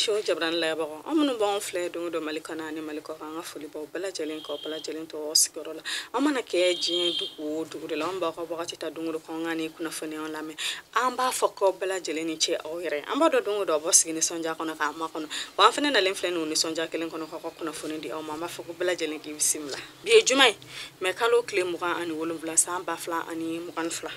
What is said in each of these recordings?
so jabaranin lajɛbagaw aw minnu b'anw filɛ don o don mali kɔnɔ ani mali kɔkan an ka foli b'aw bɛɛ lajɛlen k'aw bɛɛ lajɛlen tɔgɔ sigiyɔrɔ la aw mana kɛ diɲɛ dugu o dugu de la aw b'aw ka wagati ta don o don k'anw ka nin kunnafoniyaw lamɛn an b'a fɔ k'aw bɛɛ lajɛlen ni ce aw yɛrɛ an b'a dɔn don o don aw b'aw sigi nisɔndiya kɔnɔ k'an makɔnɔ wa an fana nalen filɛ ni o nisɔndiya kelen kɔnɔ k'aw ka kunnafoni di aw ma an b'a fɔ k'aw bɛɛ lajɛlen k'i bisimila bi ye juma ye mɛ kalo tile mugan ani wolonwula san ba fila ani mugan ni fila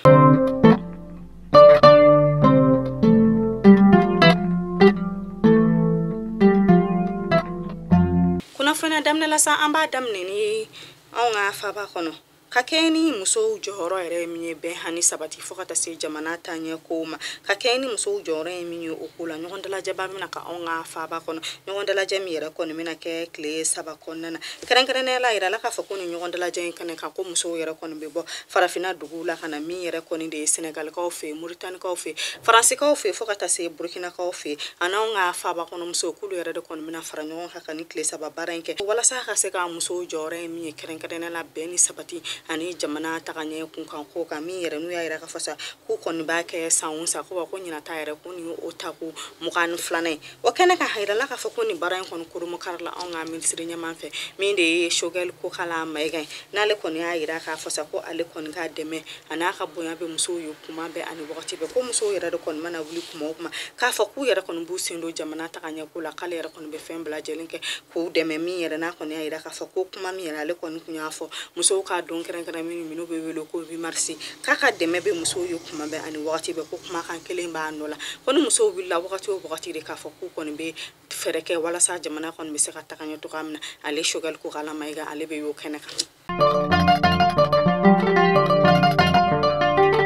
kunnafoniya daminɛ la sa an b'a daminɛ ni anw ka faaba kɔnɔ ka kɛɲɛ ni musow jɔyɔrɔ yɛrɛ ye min ye bɛn ani sabati fɔɔ ka ta se jamana taɲɛ kow ma ka kɛɲɛ ni musow jɔyɔrɔ ye min ye o ko la ɲɔgɔn dalajɛba bɛna kɛ anw ka faaba kɔnɔ ɲɔgɔn dalajɛ min yɛrɛ kɔni bɛna kɛ kile saba kɔnɔna na kɛrɛnkɛrɛnnenya la a yirala k'a fɔ ko nin ɲɔgɔn dalajɛ in kɛnɛ kan ko musow yɛrɛ kɔni bɛ bɔ farafina duguw la ka na min yɛrɛ kɔni de ye senegalikaw fɛ moritanikaw fɛ faransikaw fɛ fɔɔ ka taa se burkinakaw fɛ an'anw ka faaba kɔnɔ musow k'olu yɛrɛ de kɔni bɛna fara ɲɔgɔn kan ka nin tile saba baara in kɛ walasa ka se ka musow jɔyɔrɔ ye min ye kɛrɛnkɛrɛnnenya la bɛn ni sabati ani jamana tagaɲɛ kunkan ko kan min yɛrɛ n'u y'a yira k'a fɔ sa k'u kɔni b'a kɛ san o san ko wa ko ɲinan ta yɛrɛ ko nin ye o tako mugan ni filanan ye o kɛnɛ kan a yirala k'a fɔ ko nin baara in kɔni kurunbonkarila anw ka minisiri ɲɛmaa fɛ min de ye shogɛli kokala mayiga ye n'ale kɔni y'a yira k'a fɔ sa ko ale kɔni ka dɛmɛ an'a ka bonya bɛ musow ye kuma bɛɛ ani wagati bɛɛ ko musow yɛrɛ de kɔni mana wuli kuma o kuma k'a fɔ k'u yɛrɛ kɔni b'u sen don jamana taga ɲɛ ko la k'ale yɛrɛ kɔni bɛ fɛn bɛɛ lajɛlen kɛ k'u dɛmɛ min yɛrɛ n'a kɔni y'a yira k'a fɔ ko kuma min yɛrɛ ale kɔni tun y'a fɔ musow ka don kɛrɛnkɛrɛnnen min n'o bɛ wele ko huit mars k'a ka dɛmɛ bɛ musow ye kuma bɛɛ ani wagati bɛɛ ko kumakan kelen b'a nɔ la ko ni musow wulila wagati o wagati de k'a fɔ k'u kɔni bɛ fɛɛrɛ kɛ walasa jamana kɔni bɛ se ka taga ɲɛ cogoya min na ale shogɛli kokala mayiga ale bɛ y'o kɛnɛ kan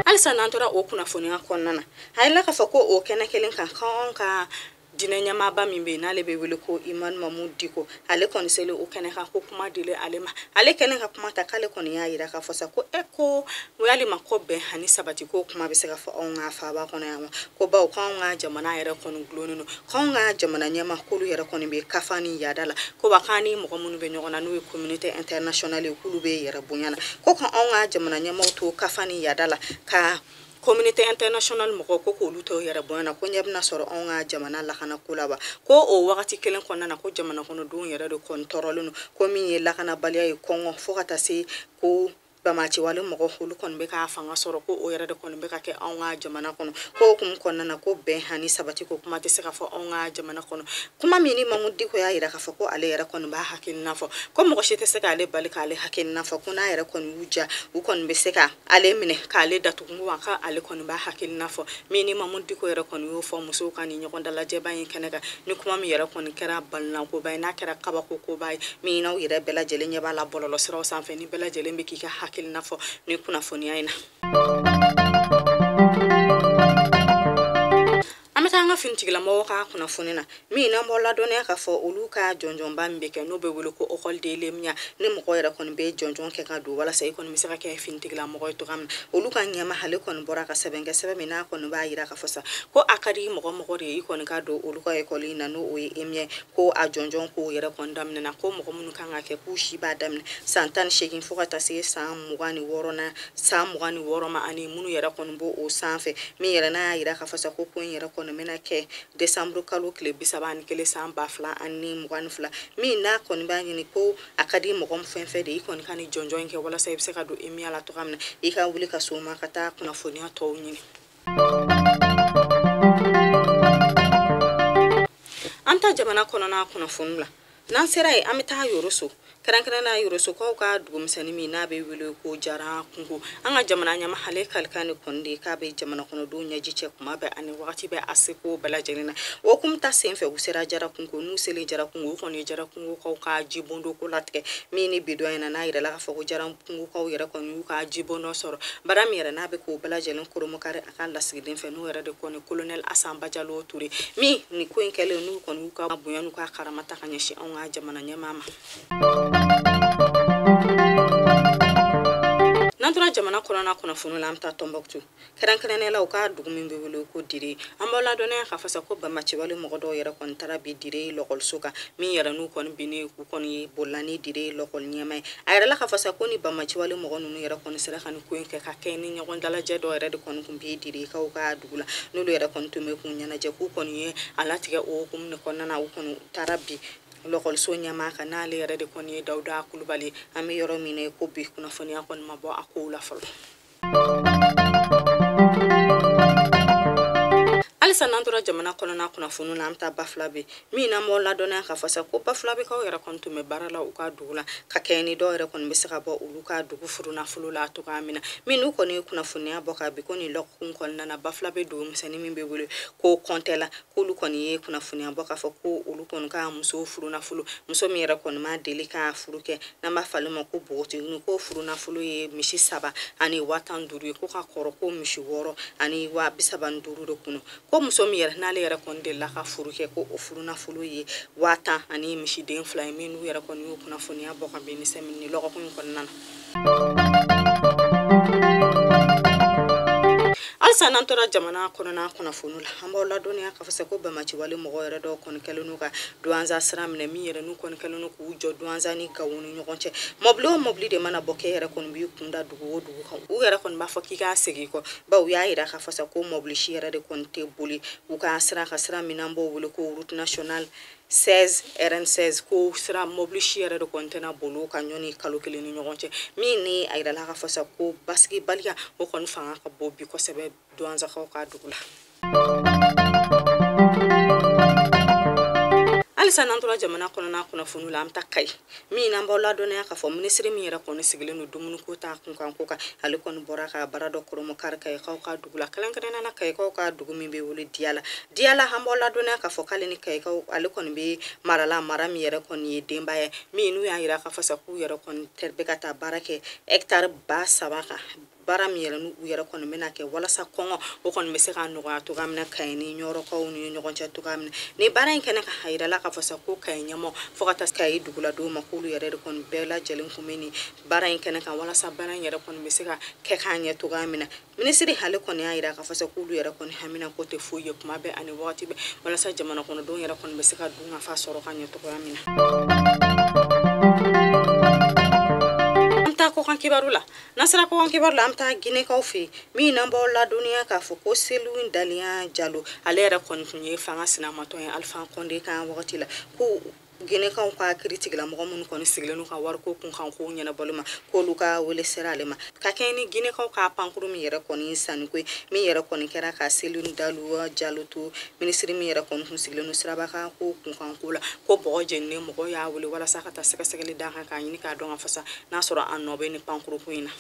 halisa n'an tora o kunnafoniya kɔnɔna na a yirala k'a fɔ ko o kɛnɛ kelen kan k'anw ka diinɛ ɲɛmaaba min bɛ yen n'ale bɛ wele ko imamu mamudu diko ale kɔni seli o kɛnɛ kan ko kuma dili ale ma ale kɛlen ka kuma ta k'ale kɔni y'a yira k'a fɔ sa ko e ko yalima ko bɛn ani sabati ko kuma bɛ se ka fɔ anw ka faaba kɔnɔ yan wa ko bawo k'anw ka jamana yɛrɛ kɔni gulonnen don k'anw ka jamana ɲɛmaaw k'olu yɛrɛ kɔni bɛ kafa ni yaada la ko ba k'an ni mɔgɔ minnu bɛ ɲɔgɔn na n'o ye communauté internationale ye k'olu bɛ yɛrɛ bonya na ko ka anw ka jamana ɲɛmaaw to kafa ni yaada la ka communauté international mɔgɔw ko k'olu tɛ yɛrɛ bonya na ko ɲɛ bɛna sɔrɔ anw ka jamana lakana ko la wa ko o wagati kelen kɔnɔna na ko jamana kɔnɔdenw yɛrɛ de kɔni tɔɔrɔlen don ko min ye lakanabaliya ye kɔngɔ fo ka taa se ko banbaanciwale mɔgɔ olu kɔni bɛ ka fanga sɔrɔ ko o yɛrɛ de kɔni bɛ ka kɛ anw ka jamana kɔnɔ ko o hukumu kɔnɔna na ko bɛn hani sabati ko kuma tɛ se ka fɔ anw ka jamana kɔnɔ kuma min ni mamudu diko y'a yira k'a fɔ ko ale yɛrɛ kɔni b'a hakilina fɔ ko mɔgɔ si tɛ se k'ale bali k'ale hakilina fɔ ko n'a yɛrɛ kɔni y'u diya u kɔni bɛ se ka ale minɛ k'ale datugu wa ka ale kɔni b'a hakilina fɔ min ni mamudu diko yɛrɛ kɔni y'o fɔ musow ka ni ɲɔgɔn dalajɛba in kɛnɛ kan ni kuma min yɛrɛ kɔni kɛra balinakoba ye n'a kɛra kabako koba ye min n'aw yɛrɛ bɛɛ lajɛlen ɲɛ b'a la bɔlɔlɔ siraw sanfɛ ni bɛɛ lajɛlen bɛ k'i ka hakilina fɔ nin kunnafoniya in na an bɛ taa an ka finitigilamɔgɔ ka kunnafoni na min n'an b'aw ladɔnniya k'a fɔ olu ka jɔnjɔnba min bɛ kɛ n'o bɛ wele ko ekɔli de l'emiya ni mɔgɔ yɛrɛ kɔni bɛ jɔnjɔn kɛ ka don walasa i kɔni bɛ se ka kɛ finitigilamɔgɔ ye cogoya min na olu ka ɲɛmaa ale kɔni bɔra ka sɛbɛn kɛ sɛbɛn min n'a kɔni b'a jira k'a fɔ sa ko a ka di mɔgɔ o mɔgɔ de ye i kɔni ka don olu ka ekɔli in na n'o o ye emiya ko a jɔnjɔn kow yɛrɛ kɔni daminɛna ko mɔgɔ minnu kan ka kɛ k'u si b'a daminɛ san tan ni seegin fo ka taa se san mugan ni wɔɔrɔnan san mugan ni wɔɔrɔ ma ani minnu yɛrɛ kɔni b'o o sanfɛ min yɛrɛ n'a y'a yira k'a fɔ sa ko ko in yɛrɛ kɔni bɛna kɛ desanburu kalo tile bisaba ani kelen san ba fila ani mugan ni fila min n'a kɔni b'a ɲini ko a ka di mɔgɔ fɛn o fɛn de i kɔni ka nin jɔnjɔn in kɛ walasa i bɛ se ka don emiya la cogoya min na i ka wuli ka s'o ma ka taa kunnafoniya tɔw ɲini an ta jamana kɔnɔna kunnafoni la n'an sera yen an bɛ taa yoroso kɛrɛnkɛrɛnnenya yorosokaw ka dugumisɛnnin min n'a bɛ wele ko jara kungo an ka jamana ɲɛmaa ale kalikan de kɔni de ye k'a bɛ jamanakɔnɔdenw ɲɛji cɛ kuma bɛɛ ani wagati bɛɛ a seko bɛɛ lajɛlen na o hukumu ta senfɛ u sera jara kungo n'u selen jara kungo u kɔni ye jara kungokaw ka jibondo ko latigɛ min ni bi don in na n'a yirala k'a fɔ ko jara kungokaw yɛrɛ kɔni y'u ka jibondo sɔrɔ baara min yɛrɛ n'a bɛ k'o bɛɛ lajɛlen kurunbonkari a ka lasigiden fɛ n'o yɛrɛ de kɔni kolonɛli asan bajalo ture min nin ko in kɛlen n'u kɔni y'u ka bonya n'u ka karama ta ka ɲɛsin anw ka jamana ɲɛmaa ma n'an tora jamana kɔnɔna kunnafoni la an bɛ taa tɔnbɔkutu kɛrɛnkɛrɛnnenya la u ka dugu min bɛ wele ko dire an b'aw ladɔnniya k'a fɔ sa ko banbaanciwale mɔgɔ dɔw yɛrɛ kɔni taara bin dire lɔkɔliso kan min yɛrɛ n'u kɔni binnen u kɔni bolila ni dire lɔkɔli ɲɛmaa ye a yirala k'a fɔ sa ko nin banbaanciwale mɔgɔ ninnu yɛrɛ kɔni sera ka nin ko in kɛ ka kɛ ni ɲɔgɔn dalajɛ dɔ yɛrɛ de kɔni tun bɛ direkaw ka dugu la n'olu yɛrɛ kɔni tun bɛ k'u ɲɛnajɛ k'u kɔni ye a latigɛ o hukumu de kɔnɔna na u kɔni taara bin lɔkɔliso ɲɛmaa kan n'ale yɛrɛ de kɔni ye dawuda kulubali an bɛ yɔrɔ min na ko bi kunnafoniya kɔni ma bɔ a kow la fɔlɔ halisa n'an tora jamana kɔnɔna kunnafoniw la an bɛ taa bafulabɛ min n'an b'aw ladɔnniya k'a fɔ sa ko bafulabɛkaw yɛrɛ kɔni tun bɛ baara la u ka dugu la ka kɛɲɛ ni dɔw yɛrɛ kɔni bɛ se ka bɔ olu ka dugu furunafolo la cogoya min na min n'u kɔni ye kunnafoniya bɔ ka bi ko nin lɔgɔkun kɔnɔna na bafulabɛ dugu misɛnnin min bɛ wele ko kɔntɛla k'olu kɔni ye kunnafoniya bɔ k'a fɔ ko olu kɔni ka musow furunafolo muso min yɛrɛ kɔni ma deli ka furu kɛ n'an b'a f'ale ma ko bogotigini ko furunafolo ye misi saba ani waa tan duuru ye ko ka kɔrɔ ko misi wɔɔrɔ ani waa bi saba ni duuru de kunu ko muso min yɛrɛ n'ale yɛrɛ kɔni delila ka furu kɛ ko o furunafolo ye waa tan ani misiden fila ye min n'u yɛrɛ kɔni y'o kunnafoniya bɔ ka bɛn ni sɛmɛni lɔgɔkun in kɔnɔna na halisa n'an tora jamana kɔnɔna kunnafoni la an b'aw ladɔnniya k'a fɔ sa ko banbaanciwale mɔgɔ yɛrɛ dɔw kɔni kɛlen n'u ka duwanza sira minɛ min yɛrɛ n'u kɔni kɛlen n'u k'u jɔ duwanza ni gawo ni ɲɔgɔn cɛ mɔbili o mɔbili de mana bɔ k'e yɛrɛ kɔni b'i kun da dugu o dugu kan u yɛrɛ kɔni b'a fɔ k'i ka segin kɔ bawo u y'a yira k'a fɔ sa ko mɔbili si yɛrɛ de kɔni tɛ boli u ka sira ka sira min n'an b'o wele ko route nationale 16 rn16 ko sira mɔbili si yɛrɛ de kɔni tɛna boli o kan yanni kalo kelen ni ɲɔgɔn cɛ min ni a yirala k'a fɔ sa ko basigibaliya o kɔni fanga ka bon bi kosɛbɛ duwanzakaw ka dugu la halisa n'an tora jamana kɔnɔna kunnafoniw la an bɛ taa kayi min n'an b'aw ladɔnniya k'a fɔ minisiri min yɛrɛ kɔni sigilen don dumuniko ta kunkanko kan ale kɔni bɔra ka baara dɔ kɔrɔmɔ kari kayikaw ka dugu la kɛrɛnkɛrɛnnenya na kayikaw ka dugu min bɛ wele diyala diyala an b'aw ladɔnniya k'a fɔ k'ale ni kayikaw ale kɔni bɛ mara la mara min yɛrɛ kɔni ye denbaya min n'u y'a yira k'a fɔ sa k'u yɛrɛ kɔni bɛ ka taa baara kɛ hɛkitari ba saba kan baara min yɛrɛ n'u yɛrɛ kɔni bɛna kɛ walasa kɔngɔ o kɔni bɛ se ka nɔgɔya cogoya min na kayi ni ɲɔrɔkaw ni ɲɔgɔn cɛ cogoya min na nin baara in kɛnɛ kan a yirala k'a fɔ sa ko kayi ɲɛmɔgɔ fo ka taa kayi duguladenw ma k'olu yɛrɛ de kɔni bɛɛ lajɛlen kun bɛ nin baara in kɛnɛ kan walasa baara in yɛrɛ kɔni bɛ se ka kɛ k'a ɲɛ cogoya min na minisiri ale kɔni y'a yira k'a fɔ sa k'olu yɛrɛ kɔni haminanko tɛ foyi ye kuma bɛɛ ani wagati bɛɛ walasa jamana kɔnɔdenw yɛrɛ kɔni bɛ se ka dunkafa sɔrɔ ka ɲɛ cogoya min na an taa kɔkan kibaru la N'an sera kɔkan kibaru la an bɛ taa ginekaw fɛ yen min n'an b'aw ladɔnniya k'a fɔ ko selu dalɛn jalo ale yɛrɛ kɔni tun ye fanga sinamatɔn ye alifa kɔnde ka wagati la ko ginekaw ka kiiritigɛla mɔgɔ minnu kɔni sigilen n'u ka wariko kunkan kow ɲɛnabɔli ma k'olu ka wele sera ale ma ka kɛɲɛ ni ginekaw ka pankuru min yɛrɛ kɔni sanniko ye min yɛrɛ kɔni kɛra ka selu dalɛn jalo to minisiri min yɛrɛ kɔni tun sigilen don siraba kan ko kunkanko la ko bɔgɔ jeninen mɔgɔ y'a wele walasa ka taa sɛgɛsɛgɛli d'a kan k'a ɲini k'a dɔn k'a fɔ sa n'a sɔrɔ a nɔ bɛ ni pankurunko in na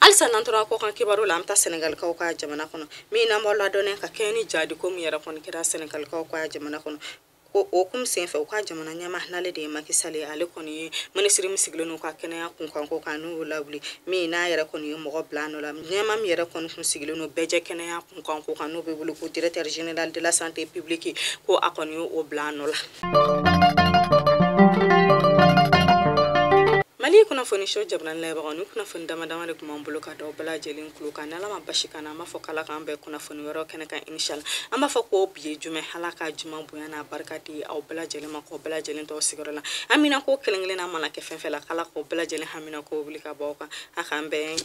halisa n'an tora kɔkan kibaru la an bɛ taa sɛnɛgalikaw ka jamana kɔnɔ min n'an b'aw ladɔnniya ka kɛɲɛ ni jaadiko min yɛrɛ kɔni kɛra sɛnɛgalikaw ka jamana kɔnɔ ko o kum senfɛ u ka jamana ɲɛmaa n'ale de ye Macky Sall ye ale kɔni ye minisiri min sigilen n'u ka kɛnɛya kunkanko kan n'u y'o lawuli min n'a yɛrɛ kɔni ye mɔgɔ bila nɔ la ɲɛmaa min yɛrɛ kɔni kun sigilen don bɛɛjɛ kɛnɛya kunkanko kan n'o bɛ wele ko directeur général de la santé publique ko a kɔni ye o bila nɔ la mali kunnafoni so jabaranin lajɛbagaw ni kunnafoni dama dama de tun b'an bolo ka d'aw bɛɛ lajɛlen kulo kan ni ala ma baasi k'an na an b'a fɔ k'ala k'an bɛn kunnafoni wɛrɛw kɛnɛ kan inshallah an b'a fɔ ko bi ye juma ye ala ka juma bonya n'a barika di aw bɛɛ lajɛlen ma k'aw bɛɛ lajɛlen to aw sigiyɔrɔ la haminako kelen kelenna mana kɛ fɛn fɛn la k'ala k'aw bɛɛ lajɛlen haminako wuli ka bɔ aw kan a k'an bɛɛ